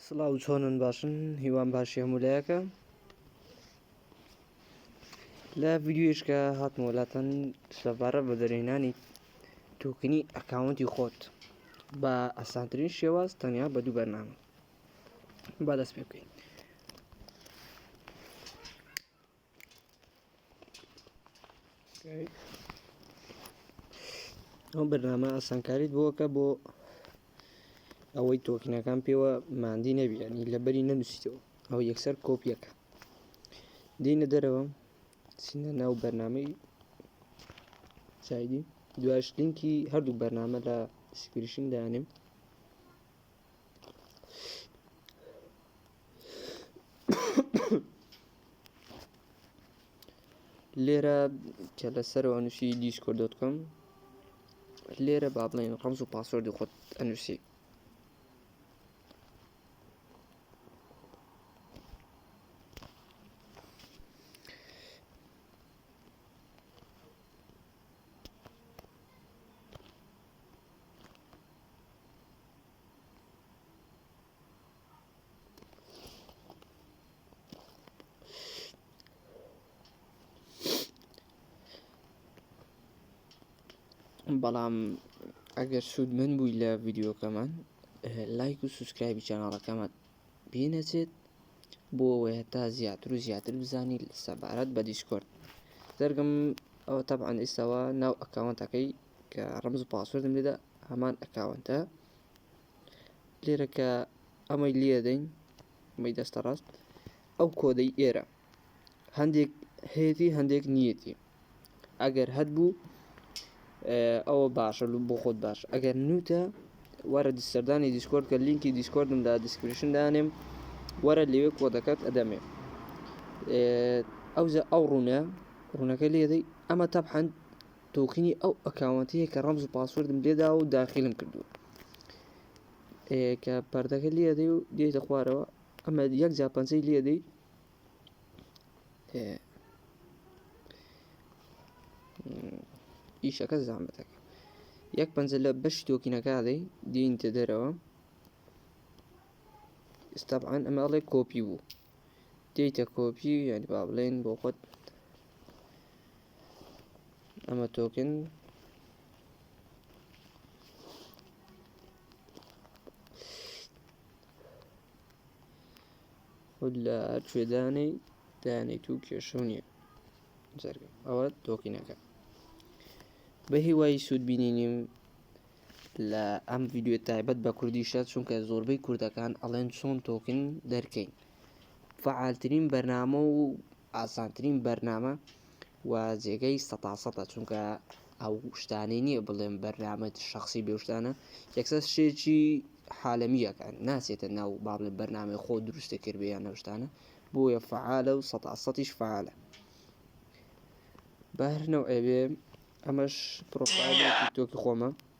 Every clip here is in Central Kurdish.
سڵاو چۆنن باشن هیوام باشی هەمولایەکە لە ڤیددیوشکە هاتمۆلاتەن سەبارە بە دەرێنانی توکنی ئەکاونتی خۆت بە ئەسانترین شێواز تەنیا بە دوو بەرنامە با دەست پێ بکەین ئەو بەرنامە ئاسانکاریت بۆکە بۆ ئەوەی تۆکنەکان پێوە مادی نەبیێنی لەبەری نەنووسیتەوە ئەو یەکسەر کۆپیەکە دینە دەرەوە سینە ناو بەرنمەی چایدی دواش لینکی هەردوو بەرنامە لە سکریشن دانیم لێرە کە لەسەرەوە ئەنووسی دیسکۆ دەتکەم لێرە با بڵێن ڕەمز و پاسۆردی خۆت ئەنووسی بەڵام ئەگەر سوود من بووی لە ڤیددیوکەمان لایک و سوسکرایبی چەناڵەکەمان پێنەچێت بۆ ئەوەیە تا زیاتر و زیاتر بزانی سەبارەت بە دیسکۆرد دەرگم ئەوە تەبعاان ئێستاوە ناو ئەکاونتەکەی کە ڕمز و پاسوردم لێدا هەمان ئەکاونتە لێرە کە ئەمەی لێدەین ئەمەی دەستە ڕاست ئەو کۆدەی ئێرە هەندێک هەیەی هەندێک نیەتی ئەگەر هەت بوو ئەوە باشە لو بۆ خۆت باش ئەگەر نوتە وەرە سەردانی دیسکۆرد کە لینکی دیسکۆردم لە دیسکرشن دانێم وەرە لەوێ کۆدەکەت ئەدەمێ ئەوزە ئەو ڕوونە ڕوونەکە لێدەی ئەمە تەبحەند تۆکینی ئەو ئەکاونتەیە کە ڕەمز و پاسوردم لێداوە و داخلم کردووە کە پردەکە لێدەی و دێتە خوارەوە ئەمە یەک جا پەنجەی لێدەی ئیشەکە زامەتەکە یەک پەنجە لە بەش تۆکینەکە دەی دێنیتە دەرەوە ئستابعاان ئەمەڵێ کۆپی بوو دێتە کۆپی یعنی با بڵێن بۆ خۆت ئەمە تۆکن خود لە ئەرچێدانەی دانیت و کێشە نیە جەرگە ئەوە تۆکینەکە بە هیوای سوود بینینیم لە ئەم ڤیددیو تایبەت بە کوردیشە چونکە زۆربەی کوردەکان ئەڵێن چۆن تۆکن دەرکەین فعالترین بەرنامە و ئاسانترین بەرنامە و جێگەی سەتا سەتە چونکە ئەو شتانەی نییە بڵێم بەرنامەت شخصی بێشتانە یەکسەر شێکی حالمیەکان ناسێتە ناو با بڵێ بەرنامەی خۆ دروستە کردبیان نەشتانە بۆیە فعالە و سەتا سەتیش فعالە بەرنەوە ئەوێ ئەمەش پرۆفایل تۆکی خۆمە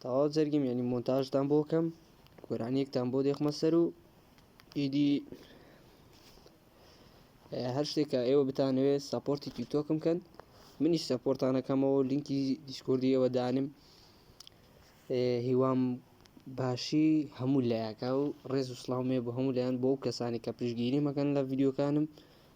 تەواو جەرگیم یعنی مۆنتاژتان بۆ کەم گۆرانیەکتان بۆ دێخمە سەر و ئیدی هەر شتێکە ئێوە بتانەوێت ساپۆرتی تیکتۆکم کەن منیش سەپۆرتانەکەمەوە لینکی دیسکردیەوە دانم هیوام باشی هەموو لایەکە و ڕێز و سلااومێ بۆ هەموو لایەن بۆ ئەو کەسانی کە پشگیری مەکەن لە ڤیددیوکانم